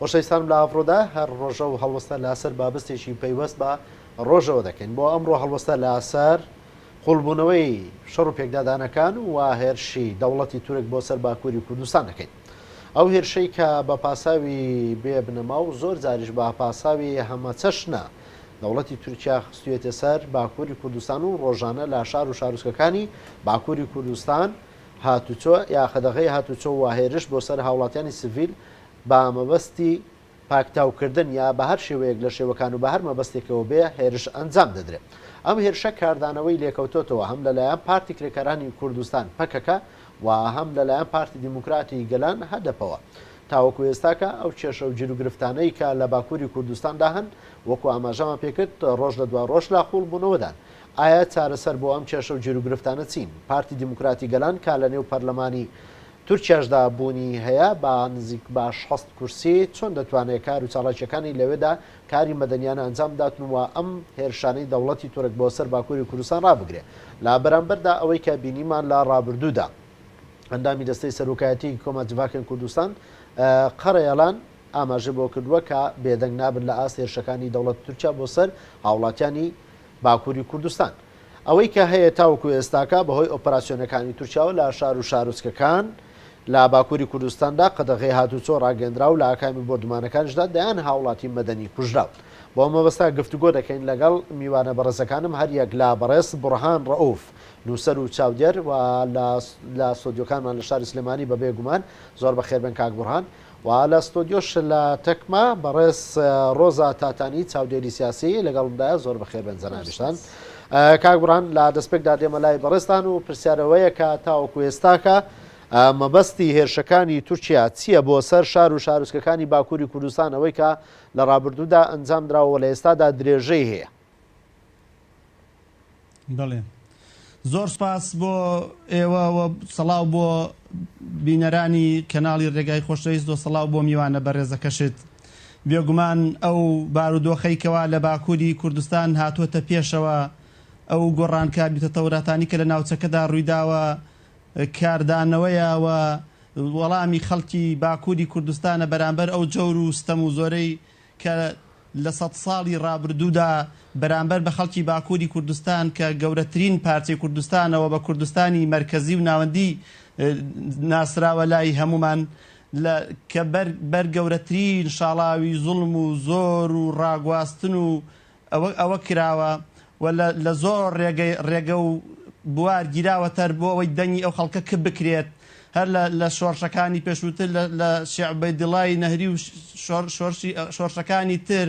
خۆشەویستانم لە ئاڤڕۆدا هەر ڕۆژە و هەڵوەستە لاسەر بابستێکی پەیوەست بە ڕۆژەوە دەکەین بۆ ئەمڕۆ هەڵوەستە لاسەر قوڵبوونەوەی شەڕ و پێکدادانەکان و هێرشی دەوڵەتی تورک بۆ سەر باکووری کوردستان دەکەین ئەو هێرشەی کە بە پاساوی بێ بنەما و زۆر جاریش بە پاساوی هەمەچەشنە دەوڵەتی تورکیا خستوێتە سەر باکووری کوردستان و ڕۆژانە لە شار و شارۆچکەکانی باکووری کوردستان هاتوچۆ یا قەدەغەی هاتوچۆ و هێرش بۆ سەر هاوڵاتیانی سڤیل بە مەبەستی پاکتاوکردن یا بە هەر شێوەیەک لە شێوەکان و بە هەر مەبەستێکەوە بێ هێرش ئەنجام دەدرێ. ئەم هێرشە کاردانەوەی لێکەوتۆتەوە هەم لە لایەن پارتی کرێکارانی کوردستان، پەکەکە، و هەم لە لایەن پارتی دیموکراتی گەلان، هەدەپەوە. تاوەکو ئێستاکە ئەو کێشە و گیروگرفتانەی کە لە باکووری کوردستاندا هەن، وەکو ئاماژەمان پێ کرد، رۆژ لە دوای رۆژ لە قووڵبوونەوەدان. ئایا چارەسەر بۆ ئەم کێشە و گیروگرفتانە چین؟ پارتی دیموکراتی گەلان کا لە نێو پەرلەمانی تورکیاشدا بوونی هەیە با نزیک باش حەست کورسی، چۆن دەتوانێ کار و چالاکیەکانی لەوێدا کاری مەدەنیانە ئەنجام بداتن و ئەم هێرشانەی دەوڵەتی تورک بۆ سەر باکوری کوردستان ڕابگرێ؟ لە بەرامبەردا ئەوەی کە بینیمان لە ڕابردوودا ئەندامی دەستەی سەرۆکایەتیی کۆمەجڤاکن کوردستان قەرەیەڵان ئاماژەی بۆ کردووە کە بێدەنگ نابن لە ئاست هێرشەکانی دەوڵەتی تورکیا بۆ سەر هاوڵاتیانی باکووری کوردستان ئەوەی کە هەیە تاوەکو ئێستاکە بەهۆی ئۆپەراسیۆنەکانی تورکیاوە لە شار و شارۆچکەکان لە باکووری کوردستاندا قەدەغەی هاتووچۆ ڕاگەندراو لە ئاکامی بۆردومانەکانیشدا دەیان هاوڵاتی مەدەنی کوژراون بۆ ئەم مەبەستە گفتوگۆ دەکەین لەگەڵ میوانە بەڕێزەکانم هەریەک لە بەڕێز بوڕهان ڕەئوف نووسەر و چاودێر و لە لە ستۆدیۆکانمان لە شاری سلێمانی بەبێ گومان زۆر بەخێربێن کاک بوڕهان و لە ستۆدیۆش لە تەکما بەڕێز ڕۆزا تاتانی چاودێری سیاسی لەگەڵمدایە زۆر بەخێربێن جەنابیشتان کاک بڕان لە دەستپێکدا دێمە لای بەڕێزتان و پرسیارەوەیە کە تاوەکو ئێستاکە مەبەستی هێرشەکانی تورکیا چییە بۆ سەر شار و شارسکەکانی باکووری کوردستان ئەوەی کە لە ڕابردوودا ئەنجام دراوە لە ئێستادا درێژەی هەیە بەڵێ زۆر سوپاس بۆ ئێوە و سەڵاو بۆ بینەرانی کەناڵی ڕێگای خۆشەویست و سەڵاو بۆ میوانە بەڕێزەکەشت بێگومان ئەو بارودۆخەی کەوا لە باکووری کوردستان هاتووەتە پێشەوە ئەو گۆڕانکاری و تەتەوراتانی کە لە ناوچەکەدا ڕوویداوە کاردانەوەیە و وەڵامی خەڵکی باکووری کوردستانە بەرامبەر ئەو جەور و ستەم و زۆرەی کە لە سەد ساڵی ڕابردوودا بەرامبەر بە خەڵکی باکووری کوردستان کە گەورەترین پارچەی کوردستانەوە بە کوردستانی مەرکەزی و ناوەندی ناسراوە لای هەموومان لە کە بەر بەر گەورەترین شاڵاوی زوڵم و زۆر و ڕاگواستن و ئەوە ئەوە کراوە و لە لە زۆر ڕێگە ڕێگە و بوار گیراوە تەر بۆ ئەوەی دەنگی ئەو خەڵکە کپ بکرێت هەر لە لە شۆڕشەکانی پێشووتر لە لە شێع عوبەیدڵای نەهری و شۆڕ شۆرشی شۆڕشەکانی تر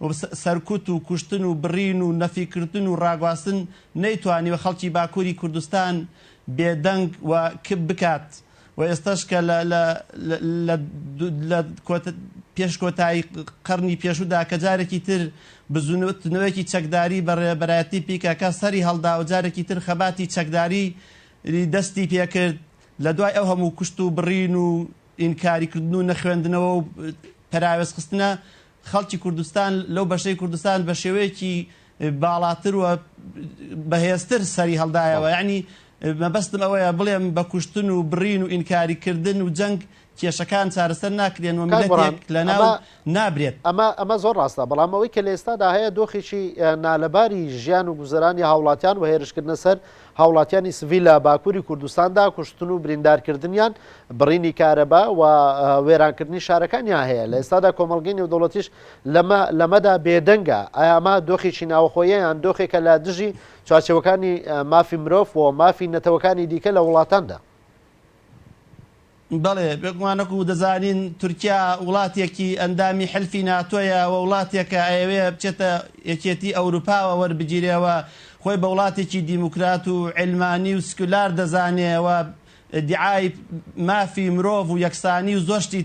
و سە سەرکوت و کوشتن و بڕین و نەفی کردن و ڕاگواستن نەیتوانیوە خەڵکی باکووری کوردستان بێدەنگ و کپ بکات و ئێستاش کە لە لە لە لە کۆتە پێش کۆتایی قەرنی پێشوودا کە جارێکی تر بزووتنەوەیەکی چەکداری بە ڕێبەرایەتی پیکەکە سەری هەڵدا و جارێکی تر خەباتی چەکداری دەستی پێ کرد لە دوای ئەو هەموو کوشت و بڕین و ئینکاری کردن و نەخوێندنەوە و پەراوێزخستنە خەڵکی کوردستان لەو بەشەی کوردستان بە شێوەیەکی باڵاتر و بەهێزتر سەری هەڵدایەوە یانی مەبەستم ئەوەیە بڵێم بە کوشتن و بڕین و ئینکاری کردن و جەنگ کێشەکان چارەسەر ناکرێن و ملەتێک لەناو نابرێت ئەمە ئەمە زۆر ڕاستە بەڵام ئەوەی کە لە ئێستادا هەیە دۆخێکی نالەباری ژیان و گوزەرانی هاوڵاتیان و هێرشکردنە سەر هاوڵاتیانی سڤیل لە باکووری کوردستاندا کوشتن و بریندارکردنیان، بڕینی کارەبا و وێرانکردنی شارەکانیان هەیە، لە ئێستادا کۆمەڵگەی نێودەوڵەتیش لەمە لەمەدا بێدەنگە، ئایا ئەمە دۆخێکی ناوەخۆیە یان دۆخێکە لە دژی چوارچێوەکانی مافی مرۆڤ و مافی نەتەوەکانی دیکە لە وڵاتاندا؟ بەڵێ، بێگومان وەکو دەزانین تورکیا وڵاتێکی ئەندامی حلفی ناتۆیە و وڵاتێکە ئەیەوێ بچێتە یەکێتی ئەوروپاوە وەربگیرێ و خۆی بە وڵاتێکی دیموکرات و عیلمانی و سکولار دەزانێ و دیعای مافی مرۆڤ و یەکسانی و زۆر شتی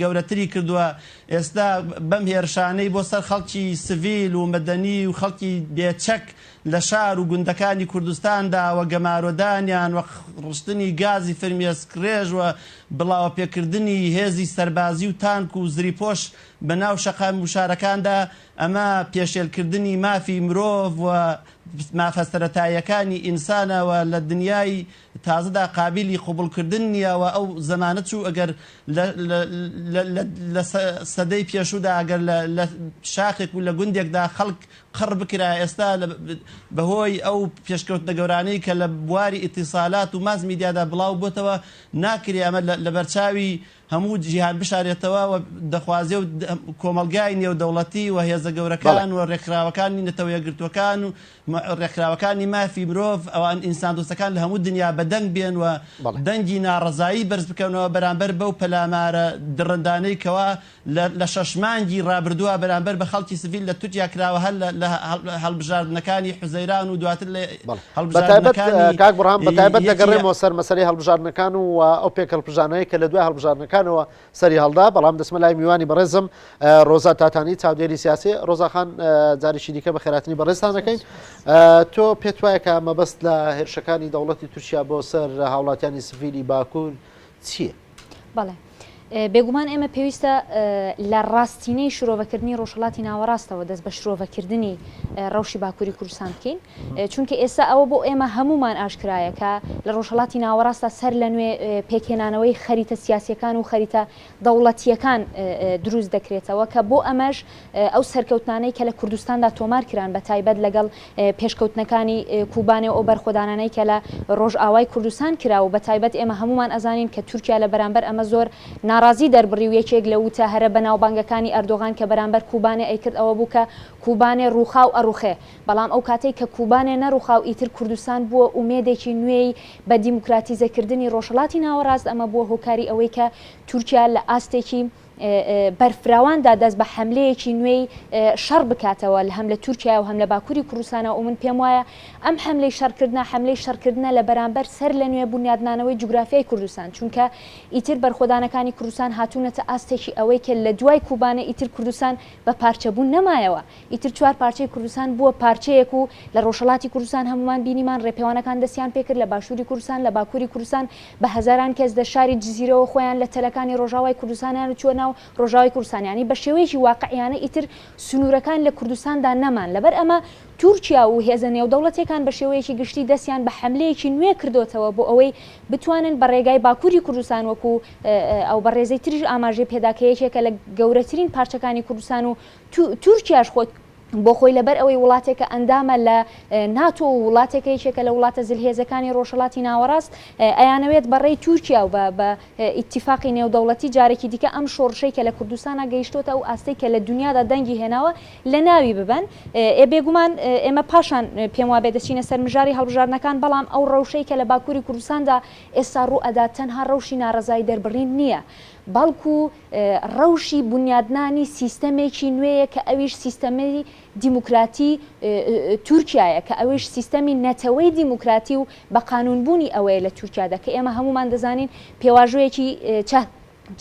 گەورەتری کردوە ئێستا بەم هێرشانەی بۆ سەر خەڵکی سڤیل و مەدەنی و خەڵکی بێ چەک لە شار و گوندەکانی کوردستاندا و گەمارۆدانیان و ڕشتنی گازی فرمیێسکڕێژ و بڵاوەپێکردنی هێزی سەربازی و تانک و زریپۆش بە ناو شەقام و شارەکاندا، ئەمە پێشێلکردنی مافی مرۆڤ و مافە سەرەتاییەکانی ئینسانە و لە دنیای تازەدا قابیلی قبوڵکردن نییە و ئەو زەمانە چوو ئەگەر لە لە سەدەی پێشوودا ئەگەر لە شاخێک و لە گوندێکدا خەڵک قڕ بکرا ئێستا بە هۆی ئەو پێشکەوتنە گەورانەی کە لە بواری ئیتیسالات و ماس میدیادا بڵاو بۆتەوە ناکرێ ئەمە لە بەرچاوی هەموو جیهان بشارێتەوە و دەخوازێ و کۆمەڵگای نێودەوڵەتی و هێزە گەورەکان و ڕێکخراوەکانی نەتەوە یەکگرتووەکان و ڕێکخراوەکانی مافی مرۆڤ ئەوان ئینسان دۆستەکان لە هەموو دنیا بەدەنگ بێن و دەنگی ناڕەزایی بەرز بکەنەوە بەرامبەر بەو پەلامارە دڕندانەی کەوا لە شەش مانگی رابردووە بەرامبەر بە خەڵکی سڤیل لە تورکیا کراوە هەر لە هەڵبژاردنەکانی حوزەیران و دواتر لە هەڵبژاردنەکانی کاک بڕام بە تایبەت دەگەڕێمەوە سەر مەسەری هەڵبژاردنەکان و ئەو پێک هەڵپژانەیە کە لە دوای هەڵبژاردنەکانەوە سەری هەڵدا بەڵام دەسمە لای میوانی بەڕێزم ڕۆزا تاتانی چاودێری سیاسی ڕۆزاخان جاریشی دیکە بە خێراتنی بەڕێستانەکەین تۆ پێت وایە کە مەبەست لە هێرشەکانی دەوڵەتی تورکیا بۆ سەر هاوڵاتیانی سڤیلی باکوور چییە؟ بەڵێ. بێگومان ئێمە پێویستە لە ڕاستینەی شرۆڤەکردنی ڕۆژهڵاتی ناوەڕاستەوە دەست بە شرۆڤەکردنی ڕەوشی باکووری کوردستان بکەین چونکە ئێستا ئەوە بۆ ئێمە هەمومان ئاشکرایەکە لە ڕۆژهڵاتی ناوەڕاستە سەر لە نوێ پێکهێنانەوەی خەریتە سیاسەکان و خەریتە دەوڵەتیەکان دروست دەکرێتەوە کە بۆ ئەمەش ئەو سەرکەوتنانەی کە لە کوردستاندا تۆمار کران بە تایبەت لەگەڵ پێشکەوتنەکانی کوبانێ و ئەو بەرخۆدانانەی کە لە ڕۆژئاوای کوردستان کرا و بە تایبەت ئێمە هەموومان ئەزانین کە تورکیا لە بەرامبەر ئەمە زۆر ناڕازی دەربڕی و یەکێک لە ووتە هەرە بەناوبانگەکانی ئەردۆغان کە بەرامبەر کوبانێ ئەیکرد ئەوە بوو کە کوبانێ ڕووخاو ئەڕوخێ بەڵام ئەو کاتەی کە کوبانێ نەڕوخاو ئیتر کوردستان بووە ئومێدێکی نوێی بە دیموکراتیزە کردنی ڕۆژهەڵاتی ناوەڕاست ئەمە بووە هۆکاری ئەوەی کە تورکیا لە ئاستێکی بەرفراواندا دەست بە حەملەیەکی نوێی شەڕ بکاتەوە هەم لە تورکیایە و هەم لە باکووری کوردستانەوە و من پێم وایە ئەم حەملەی شەڕکردنە حەملەی شەڕکردنە لە بەرامبەر سەرلەنوێ بونیادنانەوەی جوگرافیای کوردستان چونکە ئیتر بەرخۆدانەکانی کوردستان هاتوونەتە ئاستێکی ئەوەی کە لە دوای کوبانێ ئیتر کوردستان بە پارچەبوون نەمایەوە ئیتر چوار پارچەی کوردستان بووە پارچەیەک و لە ڕۆژهەڵاتی کوردستان هەموومان بینیمان ڕێپێوانەکان دەستیان پێکرد لە باشووری کوردستان لە باکووری کوردستان بە هەزاران کەس لە شاری جزیرەوە خۆیان لە تەلەکانی ڕۆژاوای کوردستانیان و چووە ناو ڕۆژاوای کوردستان یانی بە شێوەیەکی واقعیانە ئیتر سنوورەکان لە کوردستاندا نەمان لەبەر ئەمە تورکیا و هێزە نێودەوڵەتیەکان بە شێوەیەکی گشتی دەستیان بە حەملەیەکی نوێ کردۆتەوە بۆ ئەوەی بتوانن بە ڕێگای باکووری کوردستان وەکوو ئەو بەڕێزەی تریش ئاماژەی پێدا کە یەکێکە لە گەورەترین پارچەکانی کوردستان و تورکیاش خۆی بۆ خۆی لەبەر ئەوەی وڵاتێکە ئەندامە لە ناتۆ و وڵاتێکە یەکێکە لە وڵاتە زلهێزەکانی ڕۆژهەڵاتی ناوەڕاست ئەیانەوێت بەڕێی تورکیا و بە ئیتیفاقی نێودەوڵەتی جارێکی دیکە ئەم شۆڕشەی کە لە کوردستانە گەیشتوتە ئەو ئاستەی کە لە دنیادا دەنگی هێناوە لە ناوی ببەن ئێ بێگومان ئێمە پاشان پێم وابێ دەچینە سەر مژاری هەڵبژاردنەکان بەڵام ئەو ڕەوشەی کە لە باکووری کوردستاندا ئێستا ڕوو ئەدات تەنها ڕەوشی ناڕەزایی دەربڕین نییە بەڵکو ڕەوشی بونیادنانی سیستەمێکی نوێیە کە ئەویش سیستەمی دیموکراتی تورکیایە کە ئەویش سیستەمی نەتەوەی دیموکراتی و بە قانوون بوونی ئەوەیە لە تورکیادا کە ئێمە هەموومان دەزانین پێواژۆیەکی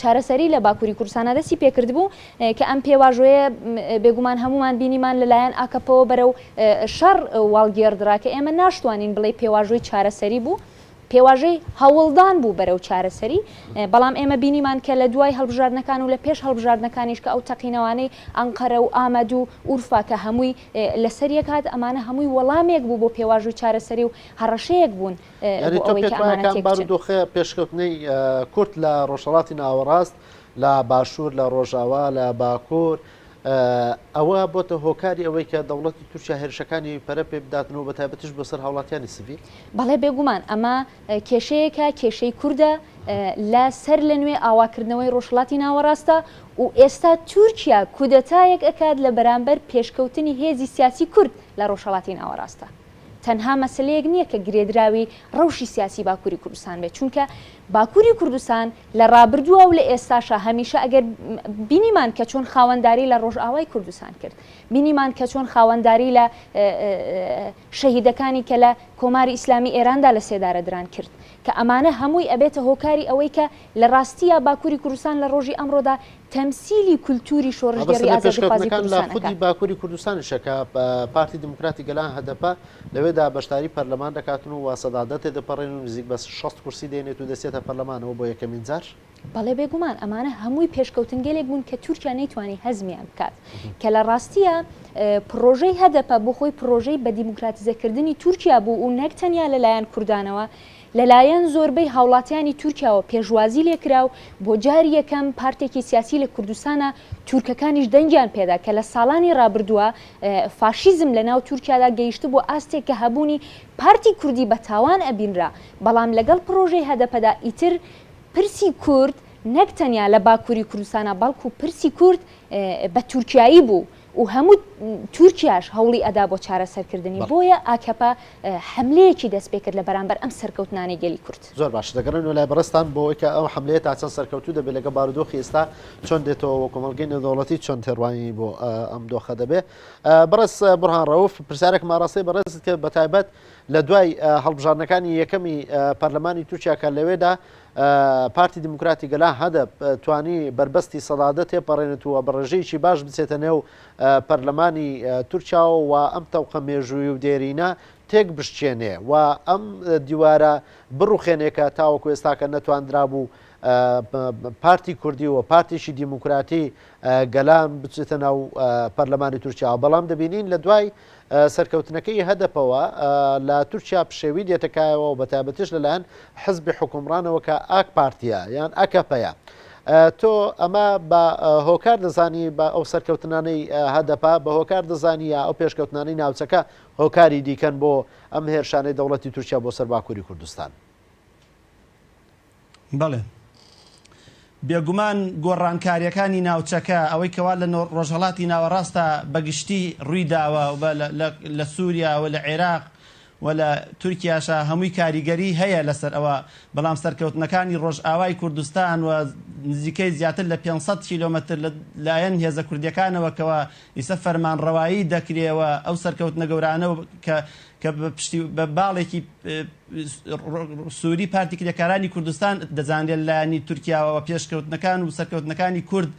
چارەسەری لە باکووری کوردستانا دەستی پێکردبوو کە ئەم پێواژۆیە بێگومان هەموومان بینیمان لەلایەن ئاکەپەوە بەرەو شەڕ واڵگێڕدرا کە ئێمە ناشتوانین بڵێ پێواژۆی چارەسەری بوو پێواژۆی هەوڵدان بوو بەرەو چارەسەری، بەڵام ئێمە بینیمان کە لە دوای هەڵبژاردنەکان و لە پێش هەڵبژاردنەکانیش کە ئەو تەقینەوانەی ئەنقەرە و ئامەد و ئورفا کە هەمووی لەسەر یەک هات ئەمانە هەمووی وەڵامێک بوو بۆ پێواژووی چارەسەری و هەڕەشەیەک بوون بۆ ئەوەی کە ئەمانە تێک بچن. بارودۆخە پێشکەوتنەی کورد لە ڕۆژهەڵاتی ناوەڕاست، لە باشوور، لە ڕۆژاوا، لە باکوور، ئەوە بۆتە هۆکاری ئەوەی کە دەوڵەتی تورکیا هێرشەکانی پەرە پێ بداتن و بە تایبەتیش بۆ سەر هاوڵاتیانی سڤیل؟ بەڵێ بێگومان ئەمە کێشەیەکە، کێشەی کوردە لە سەر لە نوێ ئاواکردنەوەی ڕۆژهەڵاتی ناوەڕاستە و ئێستا تورکیا کودەتایەک ئەکات لە بەرامبەر پێشکەوتنی هێزی سیاسی کورد لە ڕۆژهەڵاتی ناوەڕاستە. تەنها مەسەلەیەک نییە کە گرێدراوی ڕەوشی سیاسی باکووری کوردستان بێت، چونکە باکووری کوردستان لە ڕابردووا و لە ئێستاشا هەمیشە ئەگەر بینیمان کە چۆن خاوەنداری لە ڕۆژئاوای کوردستان کرد، بینیمان کە چۆن خاوەنداری لە شەهیدەکانی کە لە کۆماری ئیسلامی ئێراندا لە سێدارە دران کرد، کە ئەمانە هەمووی ئەبێتە هۆکاری ئەوەی کە لە ڕاستیا باکووری کوردستان لە ڕۆژی ئەمڕۆدا تەمسیلی کولتووری شۆڕشگێڕی مەبەستم لە ئازادیخوازی پێشکەوتنەکان لە کوردستانەکە. خودی باکووری کوردستانیشە کە پارتی دیموکراتی گەلان، هەدەپە، لەوێدا بەشداری پەرلەمان دەکاتن و واسەدادە تێدەپەڕێن و نزیک بە شەست کورسی دێنێت و دەچێتە پەرلەمانەوە بۆ یەکەمین جار. بەڵێ بێگومان ئەمانە هەمووی پێشکەوتنگەلێک بوون کە تورکیا نەیتوانی هەزمیان بکات کە لە ڕاستییا پڕۆژەی هەدەپە بۆ خۆی پڕۆژەی بە دیموکراتیزەکردنی تورکیا بوو و نەک تەنیا لە لایەن کوردانەوە لەلایەن زۆربەی هاوڵاتیانی تورکیاوە پێشوازی لێکرا و بۆ جاری یەکەم پارتێکی سیاسی لە کوردستانە تورکەکانیش دەنگیان پێدا کە لە ساڵانی ڕابردووە فاشیزم لە ناو تورکیادا گەیشتبووە ئاستێک کە هەبوونی پارتی کوردی بە تاوان ئەبینرا بەڵام لەگەڵ پڕۆژەی هەدەپەدا ئیتر پرسی کورد نەک تەنیا لە باکووری کوردستانە بەڵکوو پرسی کورد بە تورکیایی بوو و هەموو تورکیاش هەوڵی ئەدا بۆ چارەسەرکردنی، بۆیە ئاکەپە حەملەیەکی دەستپێکرد لە بەرامبەر ئەم سەرکەوتنانەی گەلی کورد. زۆر باش، دەگەڕێینەوە لای بەڕێزتان بۆ ئەوەی کە ئەو حەملەیە تا چەند سەرکەوتوو دەبێت لەگەڵ بارودۆخی ئێستا چۆن دێتەوە و کۆمەڵگەی نێودەوڵەتی چۆن تێڕوانینی بۆ ئەم دۆخە دەبێت. بەڕێز بورهان ڕەوف، پرسیارێکم ئاڕاستەی بەڕێزت کرد بەتایبەت لە دوای هەڵبژاردنەکانی یەکەمی پەرلەمانی تورکیا کە لەوێدا پارتی دیموکراتی گەلان، هەدەپ، توانی بەربەستی سەدادە تێپەڕێنێت و بە ڕێژەیەکی باش بچێتە نێو پەرلەمانی تورکیاوە و ئەم تەوقە مێژووی و دێرینە تێکبشکێنێ و ئەم دیوارە بڕوخێنێ کە تاوەکو ئێستاکە نەتواندرابوو پارتی کوردی و پارتیی دیموکراتی گەلان بچێتە ناو پەرلەمانی تورکیاوە. بەڵام دەبینین لە دوای سەرکەوتنەکەی هەدەپەوە لە تورکیا پشێوی دێتە کایەوە و بەتایبەتیش لەلایەن حزبی حوکمڕانەوە کە ئاک پارتیە یان ئەکەپەیە. تۆ ئەمە بە هۆکار دەزانی بە ئەو سەرکەوتنانەی هەدەپە بە هۆکار دەزانی یا ئەو پێشکەوتنانەی ناوچەکە هۆکاری دیکەن بۆ ئەم هێرشانەی دەوڵەتی تورکیا بۆ سەر باکووری کوردستان؟ بەڵێ بێگومان گۆڕانکارییەکانی ناوچەکە، ئەوەی کەوا لە ڕۆژهەڵاتی ناوەڕاستدا بە گشتی ڕوویداوە و لە سووریا و لە عێراق و لە تورکیاشا هەمووی کاریگەری هەیە لەسەر ئەوە، بەڵام سەرکەوتنەکانی ڕۆژئاوای کوردستان و نزیکەی زیاتر لە پێنج سەد کیلۆمەتر لە لایەن هێزە کوردییەکانەوە کەوا ئیسە فەرمانڕەوایی دەکرێ و ئەو سەرکەوتنە گەورانە و کە کە بە پشتی بە باڵێکی سوری پارتی کرێکارانی کوردستان دەزانرێت لایەنی تورکیاوە و پێشکەوتنەکان و سەرکەوتنەکانی کورد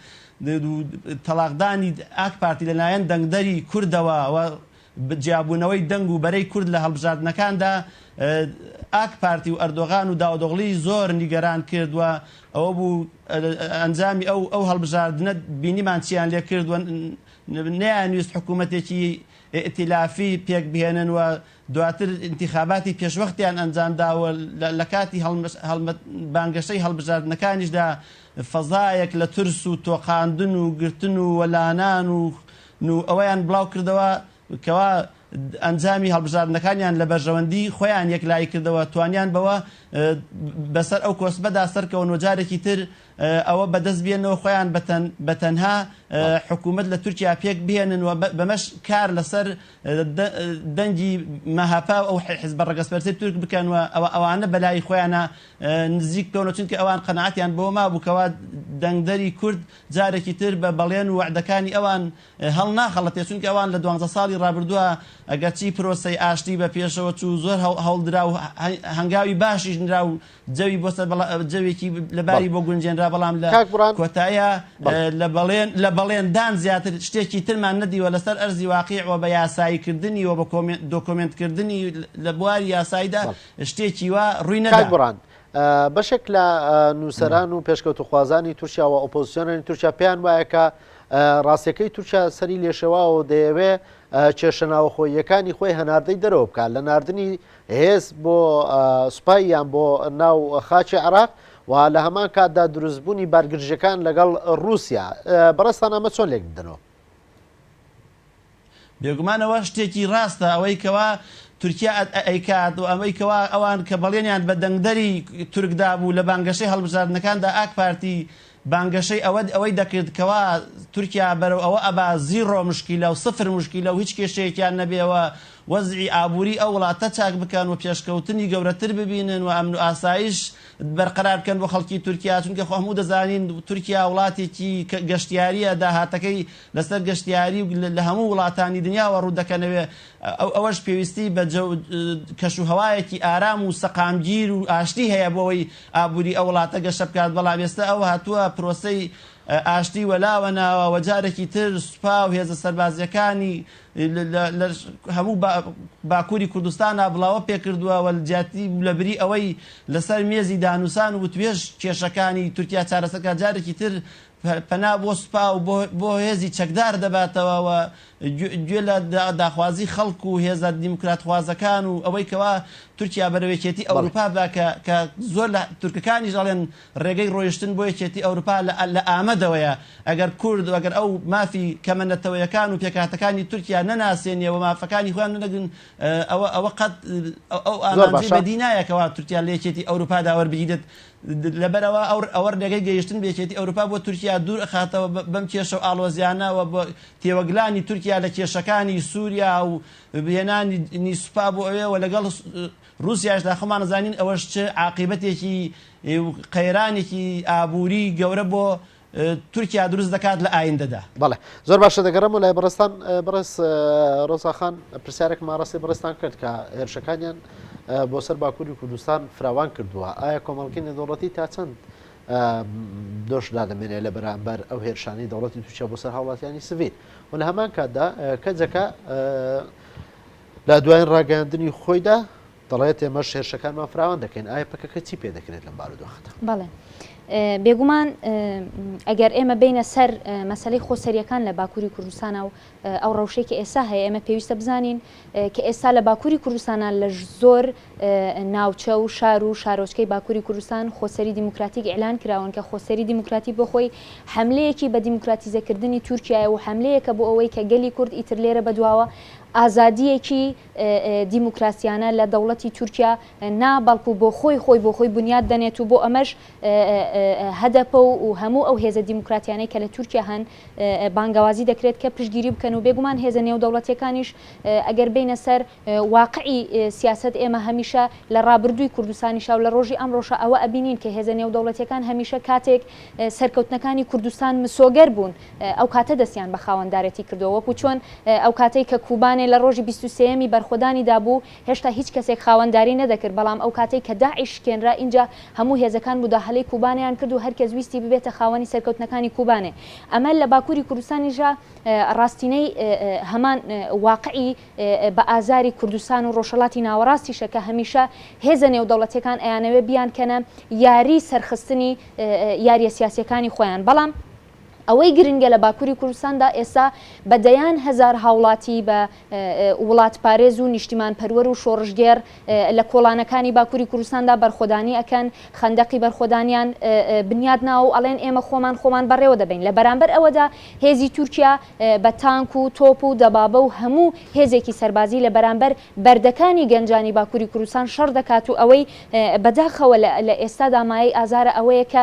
تەڵاقدانی ئاک پارتی لەلایەن دەنگدەری کوردەوە و جیابوونەوەی دەنگ و بەرەی کورد لە هەڵبژاردنەکاندا ئاک پارتی و ئەردۆغان و داودۆغڵی زۆر نیگەران کرد و ئەوە بوو ئەنجامی ئەو ئەو هەڵبژاردنە بینیمان چیان لێ کرد و نیان ویست حکوومەتێکی ئیتیلافی پێک بهێنن و دواتر ئینتیخاباتی پێشوەختیان ئەنجامدا و لە کاتی بانگەشەی هەڵبژاردنەکانیشدا فەزایەک لە ترس و تۆقاندن و گرتن و وەلانان و و ئەوەیان بڵاو کردەوە کەوا ئەنجامی هەڵبژاردنەکانیان لە بەرژەوەندی خۆیان یەکلایی کردەوە توانیان بەوە بەسەر ئەو کۆسپەدا سەرکەون و جارێکی تر ئەوە بەدەست بێننەوە خۆیان بەتەن بەتەنها حکوومەت لە تورکیا پێک بهێنن و بەمەش کار لەسەر دەنگی مەهەپە و ئەو حزبە ڕەگەزپەرستەی تورک بکەن و ئەوە ئەوانە بەلای خۆیانا نزیک بکەونەوە چونکە ئەوان قەناعەتیان بەوە مابوو کەوا دەنگدەری کورد جارێکی تر بە بەڵێن و وەعدەکانی ئەوان هەڵناخەڵەتێ چونکە ئەوان لە دوانزە ساڵی ڕابردووە ئەگەرچی پرۆسەی ئاشتی بە پێشەوە چوو زۆر هەوڵدرا و هەنگاوی باشیش نرا و جەوی بۆ سەر بەڵا جەوێکی لەباری بۆ گونجێنرا بەڵام لە کۆتایە لە بەڵێن لە بەڵێندان زیاتر شتێکی ترمان نەدیوە لەسەر ئەرزی واقع و بە یاسایی کردنی و بە دۆکۆمنت کردنی لە بواری یاساییدا شتێکی وا ڕووی نەدا بڕان بەشێک لە نووسەران و پێشکەوتوخوازانی تورکیا و ئۆپۆزیسیۆنانی تورکیا پێیان وایەکە ڕاستەکەی تورکیا سەری لێشەواوە دەیەوێ کێشە ناوەخۆیەکانی خۆی هەناردەی دەرەوە بکات لە نردنی هێز بۆ سوپای یان بۆ ناو خاکی عێراق و لە هەمان کاتدا دروستبوونی بارگرژەکان لەگەڵ رووسیا بەڕێزتان ئەمە چۆن لێک بدەنەوە؟ بێگومان ئەوە شتێکی ڕاستە ئەوەی کەوا تورکیا ئەیکات و ئەوەی کەوا ئەوان کە بەڵێنیان بە دەنگدەری تورک دابوو لە بانگەشەی هەڵبژاردنەکاندا ئاکپارتی بانگەشەی ئەوەد ئەوەی دەکرد کەوا تورکیا بەرەو ئەوە ئەبا زیڕۆ مشکیلە و سفر مشکیلە و هیچ کێشەیەکیان نەبێ و وەزعی ئابووری ئەو وڵاتە چاک بکەن و پێشکەوتنی گەورەتر ببینن و ئەمن و ئاسایش بەرقەرار بکەن بۆ خەڵکی تورکیا چونکە خۆ هەموو دەزانین تورکیا وڵاتێکی گەشتیاریە داهاتەکەی لەسەر گەشتیاری و لە هەموو وڵاتانی دنیاوە ڕوو دەکەنەوێ ئەوەش پێویستی بە جەو و کەش و هەوایەکی ئارام و سەقامگیر و ئاشتی هەیە بۆ ئەوەی ئابووری ئەو وڵاتە گەشە بکات، بەڵام ئێستا ئەوە هاتووە پرۆسەی ئاشتی وەلاوە ناوە و جارێکی تر سوپا و هێزە سەربازییەکانی لە هەموو باکووری کوردستانا بڵاوە پێ کردووە و جیاتی لە بری ئەوەی لەسەر مێزی دانووسان و وتوێژ کێشەکانی تورکیا چارەسەر بکات جارێکی تر پەنا بۆ سوپا و بۆ هێزی چەکدار دەباتەوە و گوێ لە داخوازی خەڵک و هێزە دیموکراتخوازەکان و ئەوەی کەوا تورکیا بەرەو یەکێتی ئەوروپا بە کە زۆر لە تورکەکانیش ئەڵێن ڕێگەی ڕۆیشتن بۆ یەکێتی ئەوروپا لە ئامەدەوەیە ئەگەر کورد و ئەگەر ئەو مافی کەمە نەتەوەیەکان و پێکهاتەکانی تورکیا نەناسێنێ و مافەکانی خۆیان نەدەگرن ئەوە ئەوە قەت ئەو ئامانجەی بەدی نایە کەوا تورکیا لە یەکێتی ئەوروپادا وەربگیرێت لەبەرئەوە ئەوە ڕێگەی گەیشتن بە یەکێتی ئەوروپا بۆ تورکیا دوور ئەخاتەوە بەم کێشە و ئاڵۆزیانە و بۆ تێوەگلانی تورکیا لە کێشەکانی سوریا و هێنانی سوپا بۆ ئەوێ و لەگەڵ ڕوسیاشدا خۆمان ئەزانین ئەوەش چ عاقیبەتێکی و قەیرانێکی ئابوری گەورە بۆ تورکیا دروست دەکات لە ئایندەدا. بەڵێ زۆر باشە دەگەڕێمەوە لای بەڕێزتان بەڕێز ڕۆزاخان پرسیارێکم ئاڕاستەی بەڕێزتان کرد کە هێرشەکانیان بۆ سەر باکووری کوردستان فراوان کردووە ئایا کۆمەڵکی نێودەوڵەتی تا چەند دۆش دادەمێنێ لە بەرامبەر ئەو هێرشانی دەوڵەتی تووشە بۆ سەر هاوڵاتیانی سڤیل و لە هەمان کاتدا کەجەکە لە دوایین ڕاگەاندنی خۆیدا دەڵێت، ئێمەش هێرشەکانمان فراوان دەکەین، ئایا پەکەکە چی پێ دەکرێت لەم بارودۆخەدا؟ بەڵێ بێگومان ئەگەر ئێمە بینە سەر مەسلەی خۆسەریەکان لە باکووری کوردستانە و ئەو ڕەوشەی کە ئێستا هەیە ئێمە پێویستە بزانین کە ئێستا لە باکووری کوردستانە لە زۆر ناوچە و شار و شارۆچکەی باکووری کوردستان خۆسەری دیموکراتیک ئەلان کراون کە خۆسەری دیموکراتی بۆ خۆی حملەیەکی بە دیموکراتیزەکردنی تورکایە و حملەیەکە بۆ ئەوەی کە گەلی کورد ئیتر لێرە بەدواوە ئازادیەکی دیموکراسیانە لە دەوڵەتی تورکیا نا بەڵکو بۆ خۆی خۆی بۆ خۆی بنیات دەنێت و بۆ ئەمەش هەدەپە و و هەموو ئەو هێزە دیموکراتیانەی کە لە تورکیا هەن بانگەوازی دەکرێت کە پشتگیری بکەن و بێگومان هێزە نێودەوڵەتیەکانیش ئەگەر بێینە سەر واقعی سیاسەت ئێمە هەمیشە لە ڕابردووی کوردستانیشا و لە ڕۆژی ئەمڕۆشا ئەوە ئەبینین کە هێزە نێودەوڵەتیەکان هەمیشە کاتێک سەرکەوتنەکانی کوردستان مسۆگەر بوون ئەوکاتە دەستیان بە خاوەندارێتی کردووە، وەکو چۆن ئەوکاتەی کە کوبانێ لە ڕۆژی بیست و سێیەمی بەرخۆدانیدا بوو، هێشتا هیچ کەسێک خاوەنداری نەدەکرد، بەڵام ئەوکاتەی کە داعش شکێنرا، ئینجا هەموو هێزەکان موداهەلەی کوبانێیان کرد و هەرکەس ویستی ببێتە خاوەنی سەرکەوتنەکانی کوبانێ. ئەمە لە باکوری کوردستانیشدا ڕاستینەی هەمان واقعی بە ئازاری کوردستان و ڕۆژهەڵاتی ناوەڕاستیشە کە هەمیشە هێزە نێودەوڵەتیەکان ئەیانەوێ بیانکەنە یاری سەرخستنی یاریە سیاسیەکانی خۆیان، بەڵام. ئەوەی گرنگە لە باکوری کوردستاندا ئێستا بە دەیان هەزار هاوڵاتی بە وڵاتپارێز و نیشتیمان پەروەر و شۆڕشگێڕ لە کۆڵانەکانی باکوری کوردستاندا بەرخۆدانی ئەکەن، خەندەقی بەرخۆدانیان بنیات ناوە و ئەڵێن ئێمە خۆمان خۆمان بەڕێوە دەبەین. لە بەرامبەر ئەوەدا هێزی تورکیا بە تانک و تۆپ و دەبابە و هەموو هێزێکی سەربازی لە بەرامبەر بەردەکانی گەنجانی باکوری کوردستان شەڕ دەکات و ئەوەی بەداخەوە لە ئێستادا مایەی ئازارە ئەوەیە کە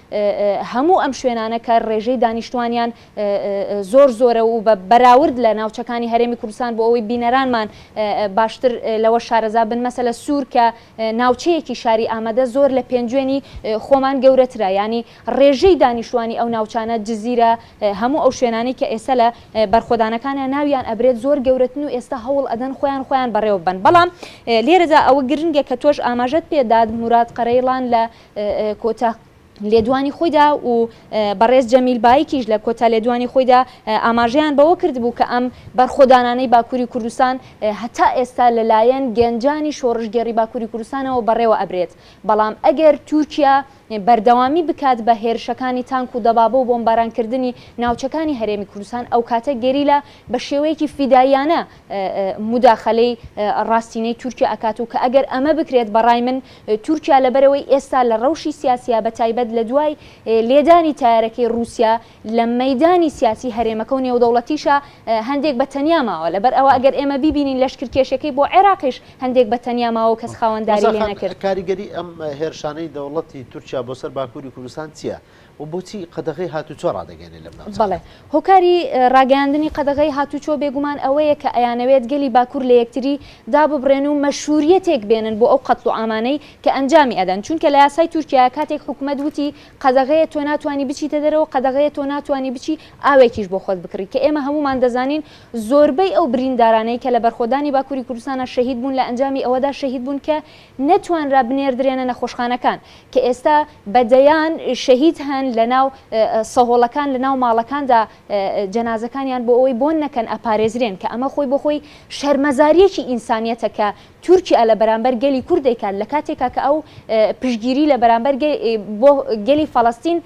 هەموو ئەم شوێنانە کە ڕێژەی دانیشتوانیان زۆر زۆرە و بە بەراورد لە ناوچەکانی هەرێمی کوردستان بۆ ئەوەی بینەرانمان باشتر لەوە شارەزا بن مەسەلە سوور کە ناوچەیەکی شاری ئامەدە زۆر لە پێنجوێنی خۆمان گەورەترە یانی ڕێژەی دانیشتوانی ئەو ناوچانە جزیرە هەموو ئەو شوێنانەی کە ئێستا لە بەرخۆدانەکانیان ناویان ئەبرێت زۆر گەورەتن و ئێستا هەوڵ ئەدەن خۆیان خۆیان بەڕێوە ببەن بەڵام لێرەدا ئەوە گرنگە کە تۆش ئاماژەت پێ دات موراد قەرەیڵان لە کۆتا لێدوانی خۆیدا و بەڕێز جەمیل بایکیش لە کۆتا لێدوانی خۆیدا ئاماژەیان بەوە کردبوو کە ئەم بەرخۆدانانەی باکووری کوردستان هەتا ئێستا لەلایەن گەنجانی شۆڕشگێڕی باکووری کوردستانەوە بەڕێوە ئەبرێت، بەڵام ئەگەر تورکیا بەردەوامی بکات بە هێرشەکانی تانک و دەبابە و بۆمبارانکردنی ناوچەکانی هەرێمی کوردستان ئەوکاتە گەریلا بە شێوەیەکی فیداییانە موداخەلەی ڕاستینەی تورکیا ئەکات و کە ئەگەر ئەمە بکرێت بەڕای من تورکیا لەبەرئەوەی ئێستا لە ڕەوشی سیاسیا بەتایبەت لە دوای لێدانی تایەرەکەی ڕوسیا لە مەیدانی سیاسی هەرێمەکە و نێودەوڵەتیشا هەندێک بە تەنیا ماوە لەبەر ئەوە ئەگەر ئێمە بیبینین لەشکرکێشەکەی بۆ عێراقیش هەندێک بە تەنیا ماوە و کەس خاوەنداری لێنەکرد. کاریگەری ئەم هێرشانەی دەوڵەتی تورکیا بۆ سەر باکوری کوردستان چیە؟ و بۆچی قەدەغەی هاتووچۆ ڕادەگەیەنێت لەم ناوچانە؟ بەڵێ، هۆکاری ڕاگەیاندنی قەدەغەی هاتووچۆ بێگومان ئەوەیە کە ئەیانەوێت گەلی باکوور لە یەکتری داببڕێن و مەشرووریەتێک بێنن بۆ ئەو قەتڵوعامانەی کە ئەنجامی ئەدەن، چونکە لە یاسای تورکیایە کاتێک حکومەت وتی قەدەغەیە تۆ ناتوانی بچیتە دەرەوە، قەدەغەیە تۆ ناتوانی بچی ئاوێکیش بۆ خۆت بکڕی، کە ئێمە هەموومان دەزانین زۆربەی ئەو بریندارانەی کە لە بەرخۆدانی باکووری کوردستانا شەهید بوون لە ئەنجامی ئەوەدا شەهید بوون کە نەتوانرا بنێردرێنە نەخۆشخانەکان، کە ئێستا بە دەیان شەهید هەن لەناو سەهۆڵەکان لەناو ماڵەکاندا جەنازەکانیان بۆ ئەوەی بۆن نەکەن ئەپارێزرێن کە ئەمە خۆی بۆ خۆی شەرمەزاریەکی ئینسانیەتە کە تورکیا لە بەرامبەر گەلی کورد دەیکات لە کاتێکا کە ئەو پشتگیری لە بەرامبەر بۆ گەلی فەڵەستین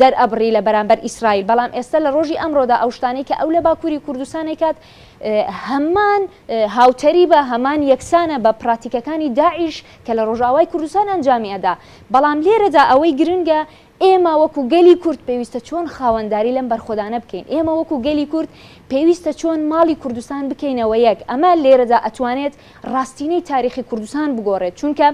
دەرئەبڕی لە بەرامبەر ئیسرائیل بەڵام ئێستا لە ڕۆژی ئەمڕۆدا ئەو شتانەی کە ئەو لە باکوری کوردستان ئەیکات هەمان هاوتەریبە هەمان یەکسانە بە پڕاتیکەکانی داعیش کە لە ڕۆژئاوای کوردستان ئەنجامی ئەدا، بەڵام لێرەدا ئەوەی گرنگە ئێمە وەکو گەلی کورد پێویستە چۆن خاوەنداری لەم بەرخۆدانە بکەین، ئێمە وەکو گەلی کورد پێویستە چۆن ماڵی کوردستان بکەینەوە یەک، ئەمە لێرەدا ئەتوانێت ڕاستینەی تاریخی کوردستان بگۆڕێت، چونکە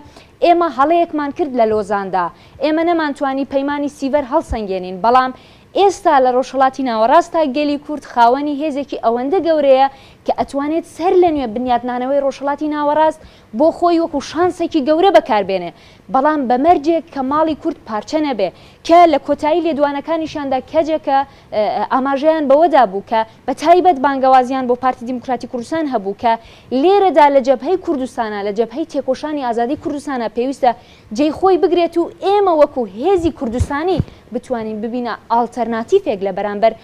ئێمە هەڵەیەکمان کرد لە لۆزاندا، ئێمە نەمانتوانی پەیمانی سیڤەر هەڵسەنگێنین، بەڵام ئێستا لە ڕۆژهەڵاتی ناوەڕاستدا گەلی کورد خاوەنی هێزێکی ئەوەندە گەورەیە کە ئەتوانێت سەرلەنوێ بنیاتنانەوەی ڕۆژهەڵاتی ناوەڕاست بۆ خۆی وەکو شانسێکی گەورە بەکار بێنێ، بەڵام بە مەرجێک کە ماڵی کورد پارچە نەبێ، کە لە کۆتایی لێدوانەکانیشیاندا کەجەکە ئاماژەیان بەوەدا بوو کە بە تایبەت بانگەوازیان بۆ پارتی دیموکراتی کوردستان هەبوو کە لێرەدا لە جەبهەی کوردستانا، لە جەبهەی تێکۆشانی ئازادی کوردستانا پێویستە جێی خۆی بگرێت و ئێمە وەکو هێزی کوردستانی بتوانین ببینە ئاڵتەرناتیفێک لە بەرامبەر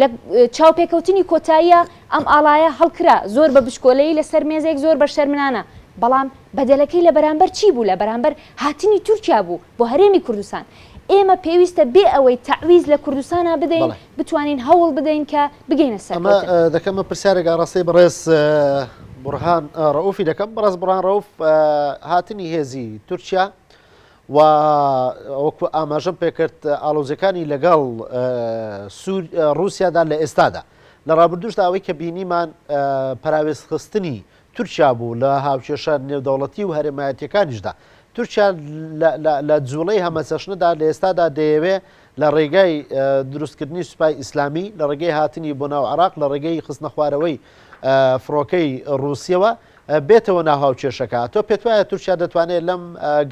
لە چاوپێکەوتنی کۆتاییە ئەم ئاڵایە هەڵکرا، زۆر بە بچکۆلەیی لە سەر مێزێک، زۆر بە شەرمنانە، بەڵام بەدەلەکەی لە بەرامبەر چی بوو؟ لە بەرامبەر هاتنی تورکیا بوو بۆ هەرێمی کوردستان. ئێمە پێویستە بێ ئەوەی تەعویز لە کوردستانا بدەین، بەڵێ. بتوانین هەوڵ بدەین کە بگەینە ئەمە سەرکەوتن. دەکەم من پرسیارێک ئاڕاستەی بەڕێز بوڕهان ڕەئوفی دەکەم، بەڕێز بوڕهان ڕەئوف هاتنی هێزی تورکیا و وەکو ئاماژەم پێکرد ئاڵۆزیەکانی لەگەڵ ڕوسیادا لە ئێستادا لە ڕابردوشدا ئەوەی کە بینیمان پەراوێز خستنی تورکیا بوو لە هاوکێشە نێودەوڵەتی و هەرێمایەتیەکانیشدا تورکیا لە جوڵەی هەمەچەشنەدا لە ئێستادا دەیەوێ لە ڕێگای دروستکردنی سوپای ئیسلامی لە ڕێگەی هاتنی بۆ ناو عراق لە ڕێگەی خستنە خوارەوەی فڕۆکەی ڕوسیەوە بێتەوە ناو هاوکێشەکە. تۆ پێت وایە تورکیا دەتوانێت لەم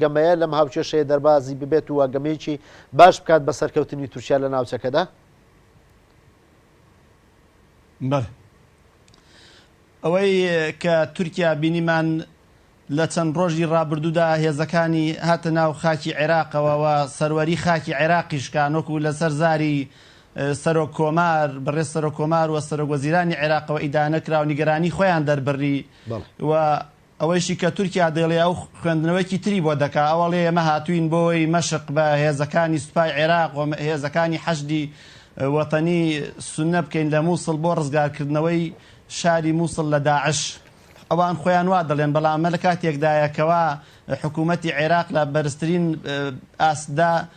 گەمەیە، لەم هاوکێشەیە دەربازی ببێت و گەمەیەکی باش بکات بە سەرکەوتنی تورکیا لە ناوچەکەدا؟ بەڵێ. ئەوەی کە تورکیا بینیمان لە چەند ڕۆژی ڕابردوودا هێزەکانی هاتە ناو خاکی عێراقەوە و سەروەری خاکی عێراقی شکان وەکوو لەسەر زاری سەرۆک کۆمار، بەڕێز سەرۆک کۆمار و سەرۆک وەزیرانی عێراقەوە ئیدانە کرا و نیگەرانی خۆیان دەربڕی و ئەوەیشی کە تورکیا دەیڵێ ئەو خوێندنەوەیەکی تری بۆ دەکا، ئەوەڵێ ئێمە هاتووین بۆی مەشق بە هێزەکانی سوپای عێراق و هێزەکانی حەشدی وەتەنی سوننە بکەین لە مووسڵ بۆ ڕزگارکردنەوەی شاری مووسڵ لە داعش. ئەوان خۆیان وا دەڵێن، بەڵام ئەمە لە کاتێکدایە کەوا حکوومەتی عێراق لە بەرزترین ئاستدا